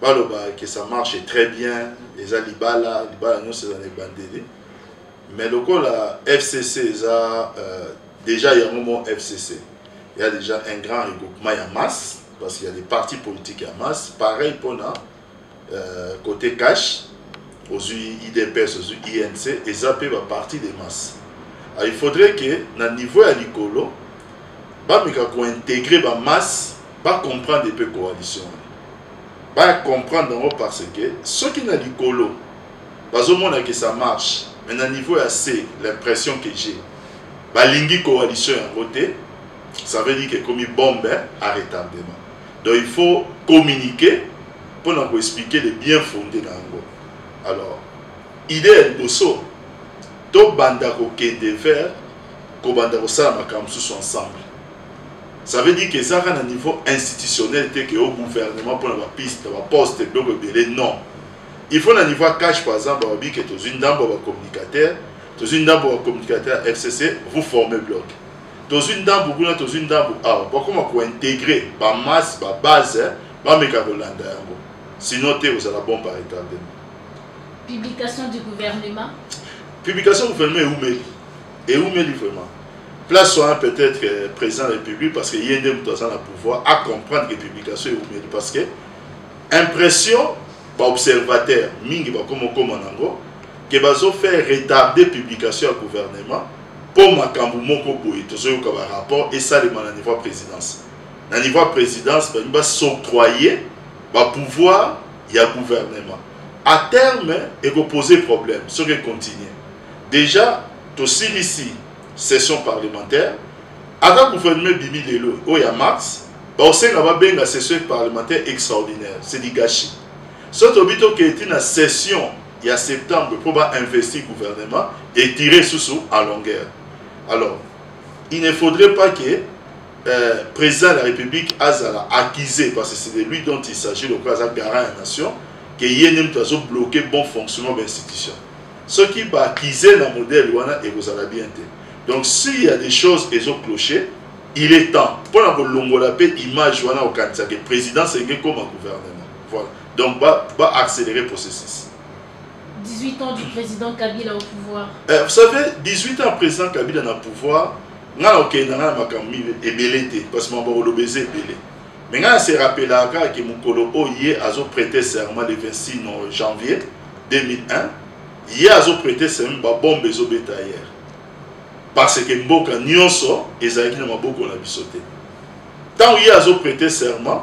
baloba que ça marche très bien eza libala libala nyonso eza na ebandeli mais lokola fcc eza euh, déjà yango mo fcc ya déjà un grand regroupement ya masse parce qu'il y a des partis politiques ya masse pareil mpona euh, côté cash ozwi idps ozwi inc eza mpe baparti de masse ah, il faudrait que na niveau ya likolo bameka kointegre bamasse ba comprendre mpe coalition ba comprendre yango parce que soki na likolo bazomona que ça marche mais na niveau ya se l'impression que j'ai balingi coalition yango te ça veut dire que ekomi bombe à retardement donc il faut communiquer mpo na koexplike le bien fonde na yango alors idée ya liboso tobanda kokende vers kobanda kosala makambo mosusu ensemble ça veut dire que eza kaka na niveau institutionnel te ke o gouvernement mpona bapiste baposte biloko ebele non il faut na niveau ya cash par exemple balobi ke tozwi ndambo ya bacommunicateur tozwi ndambo ya bacommunicateur ya fcc vous forme bloc tozwi ndambo kuna tozwi ndambo awa bakoma kointegre bamasse babase bameka kolanda yango sinon te ozala bon par retardement publication du gouvernement publication gouvernement eumeli eumeli vraiment place wana peut-être euh, président de la république parce que ye nde moto aza na pouvoir a comprendre que publication eumeli parce que impression baobservateur mingi bakoma okoma nango ke bazofaire retarder publication ya gouvernement mpo makambo moko boye tozoyoka barapport esalema na niveau ya présidence na niveau ya présidence balingi basoctroye bapouvoir ya gouvernement à terme ekopose problème soki econtinue dejà tosilisi session parlementaire ata gouvernement bibi lelo oyo ya mars baosenga babenga session parlementaire extraordinaire c'est du gâchis soki tobi tokei ti na session ya septembre mpo bainvesti gouvernement etire susu à longueur alors il ne faudrait pas que euh, président de la république azala accusé parce que c'est de lui dont il s'agit lokola aza garant ya nation ke ye nde moto azobloke bon fonctionnement bainstitution soki ba kize na modèle wana ekozala bien te donc s'il y a des choses ezo clocher il est temps mpo na kolongola mpe image wana okanisa ke présidence elingi ekoma gouvernement voilà donc ba, ba accélérer processus 18 ans du président kabila au pouvoir eh, vous savez 18 ans président kabila na pouvoir ngai na okende na ngai na makambo ebele te parce que mambo koloba eza ebele mais ngai se rappelaka kaka ke mokolo oyo ye azo prêter serment le 26 janvier 2001 ye azo prêter serment babombe ezobeta ayere parce que mboka nyonso ezalaki na maboko na biso te ntango ye azo prêter serment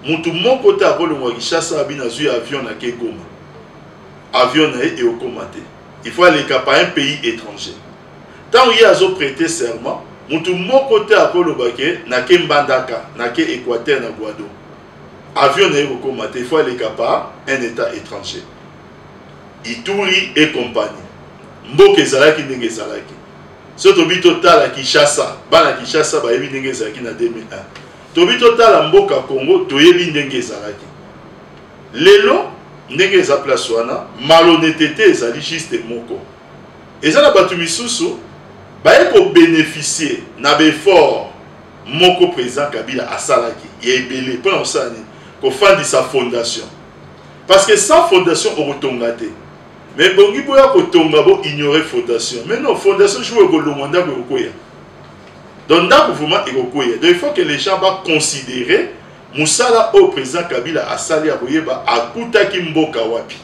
motu moko te akolongwa kinshasa abina azwi avion na ke goma avion na ye ekokoma te il faut aleka par un pays étranger Tant ye azo prêter serment, mutu moko te akoloba ke nake Mbandaka, nake Equateur na Guado. Avion na ye kokoma te, il faut aleka par un etat etranger. Ituri et compagnie. Mboka ezalaki ndenge ezalaki. So tobi totala Kinshasa, bana Kinshasa bayebi ndenge ezalaki na 2001. Tobi totala mboka Congo, toyebi ndenge ezalaki. Lelo ndenge eza place wana, malhonnêteté ezali juste moko. Eza na batu misusu baye ko beneficier na ba effort moko president Kabila asalaki ya ebele pona kosala nini kofandisa fondation parce que sans fondation okotonga te mais bongi boya kotonga bo ignorer fondation mais non fondation jour ekolongwa ndako ekokweya donc ndako vraiment ekokweya donc il faut que les gens ba considérer mosala oyo president Kabila asali ya koyeba akutaki mboka wapi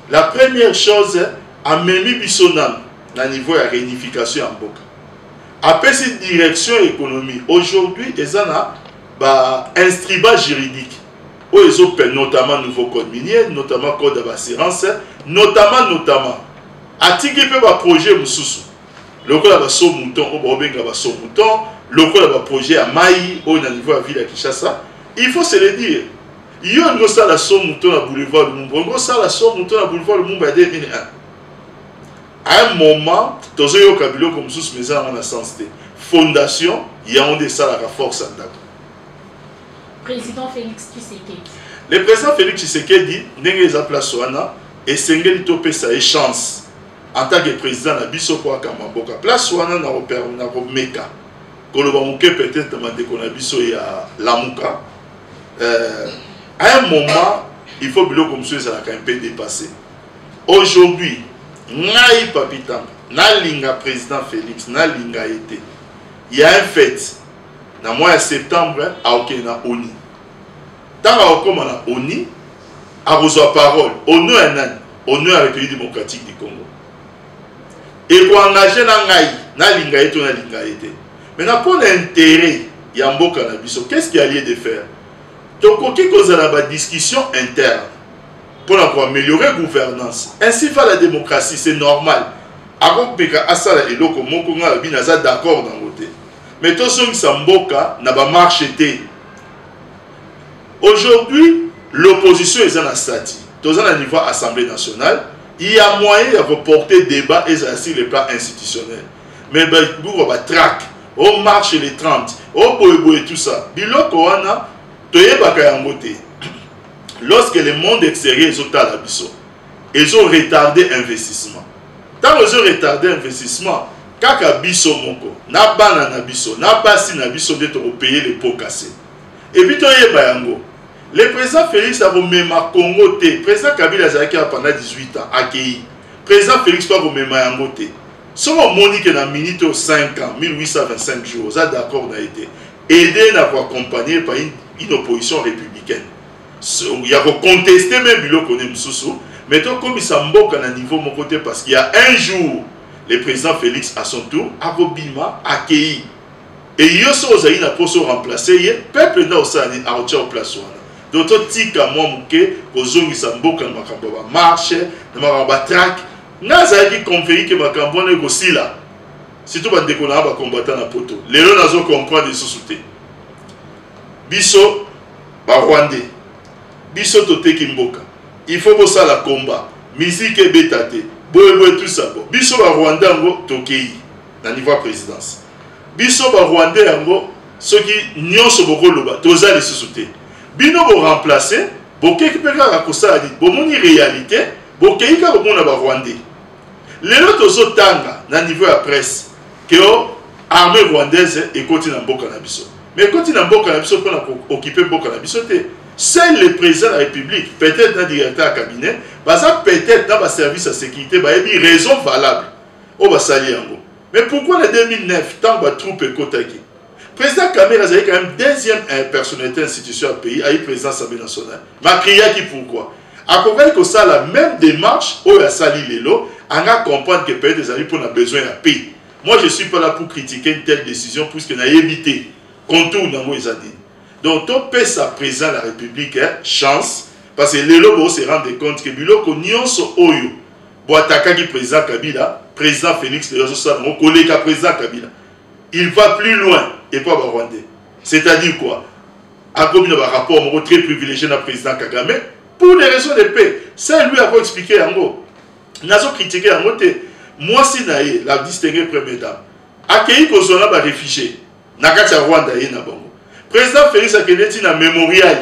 La première chose amemi biso nanu na niveau ya réunification ya mboka apesi direction économie aujourd'hui eza na ba instrument juridique oyo ezopela notamment nouveau code minier notamment code ya baassurance notamment notamment atiki mpe baprojet mosusu lokola baso mouton oyo baobenga baso mouton lokola baprojet ya mai oyo na niveau ya ville ya kinshasa il faut se le dire Yo ndio sala so moto na boulevard Lumumba. Ndio sala so moto na boulevard Lumumba ya 2001. À un moment, tozo yoka biloko mosusu mais eza na sens te. Fondation yango nde esalaka force ya ndako. Président Félix Tshisekedi. Le président Félix Tshisekedi ndenge eza place wana esengeli topesa ye chance en tant que président na biso mpo akamba mboka place wana na komeka koloba moke peut-être bandeko na biso ya lamuka euh, à un moment il faut biloko mosusu ezalaka un peu dépassé aujourd'hui ngai papi tambo nalinga président félix nalinga ye te ya un fete na mois ya septembre aokende na oni ntango akokóma na oni akozwa parole ono ya nani ono ya république démocratique du congo ekoengage na ngai nalinga ye to nalinga ye te maintenant mpo na intérêt ya mboka na biso qu'est ce qui a lieu de faire tokoki kozala badiscussion interne mpo na koaméliorer gouvernance ainsi va la démocratie c'est normal akopeka asala eloko moko ngai alobi naza d'accord nango te mais tozongisa mboka na bamarche te aujourd'hui l'opposition eza na stati toza na niveau assemblée nationale il y a moyen ya koporter débat ezala sur le plan institutionnel mais buka batraque o oh, marche le 30 o oh, boyeboye tout ça biloko wana toyebaka yango te lorsque le monde extérieur ezotala biso ezo retarder investissement ntango ezo retarder investissement kaka biso moko na bana na biso na basi na biso nde tokopaye le pot casse Et puis toyeba yango. Le président Félix akomema Congo te. Président Kabila azalaki awa pendant 18 ans akeyi. Président Félix mpe akomema yango te. Soki omoni ke na minute oyo 5 ans 1825 jours oza d'accord na ye te aide na koaccompagne par une, une opposition républicaine ya koconteste meme biloko ne mosusu mais tokomisa mboka na niveau moko te parce qu'il y a un jour le président félix à son tour akobima akeyi et yo soki ozali na mposa oremplace ye peuple nde akosala nini akotia o place wana donc totika mwa moke kozongisa mboka na makambo ya bamarche na makambo ya batrake ngai azalaki conveni ke makambo wana ekosila surtout bandeko na ya bacombatant na poto lelo nazo comprendre lisusu te biso barwandais biso toteki mboka il faut bosala combat miziki ebeta te boyeboye tusabo biso barwanda yango tokei na niveau ya présidence biso ba rwandais yango soki nyonso bokoloba toza lisusu te bino boremplace bokeki mpe kaka kosala nini bomoni réalité bokei kaka komona ba rwandais lelo tozotanga na niveau ya presse keo oh, armée rwandaise ekoti na mboka na biso mais ekoti na mboka na biso mpona kookipe mboka na biso te seul le président de la république peut-être na directeur ya cabinet baza peut-être na baservice ya sécurité bayebi raison valable oyo basali yango mais pourquoi na 2009 ntango batroupe ekotaki président kamere azali quand même deuxième eh, personnalité institution ya pays ayi président assemblée nationale makriyaki pourquoi akokaki kosala même démarche oyo asali lelo anga comprendre que peut-être ezali mpo na besoin ya paix moi je suis pas là pour critiquer une telle décision puisque nayebi te contour nango eza nini donc topesa président ya la république eh, chance parce que lelo boko se rendre compte que biloko nyonso oyo bo atakaki président kabila président félix lelo azosala yango koleka président kabila il va plus loin epa barwandais c'est à dire quoi akomi na barapport moko très privilégié na président kagame pour des raisons de paix c'est lui ako expliqué yango nazo kritike yango te mwasi na ye la distingue première dame akei kozwa na baréfugié na kati ya rwanda ye na bango président félix akende ti na mémorial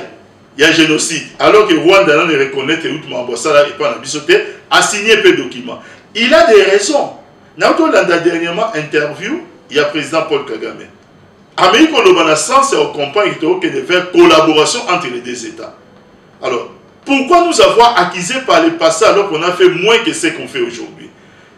ya génocide alors que rwanda nano ereconnaitre euti makambo asala epai na biso te asigne mpe document il a des raisons nauti olanda dernièrement interview ya président paul kagame ameki koloba na sens ya ocomprendre tokokende vers collaboration entre les deux états alors pourquoi nous avoir accusé par le passé alors qu'on a fait moins que ce qu'on fait aujourd'hui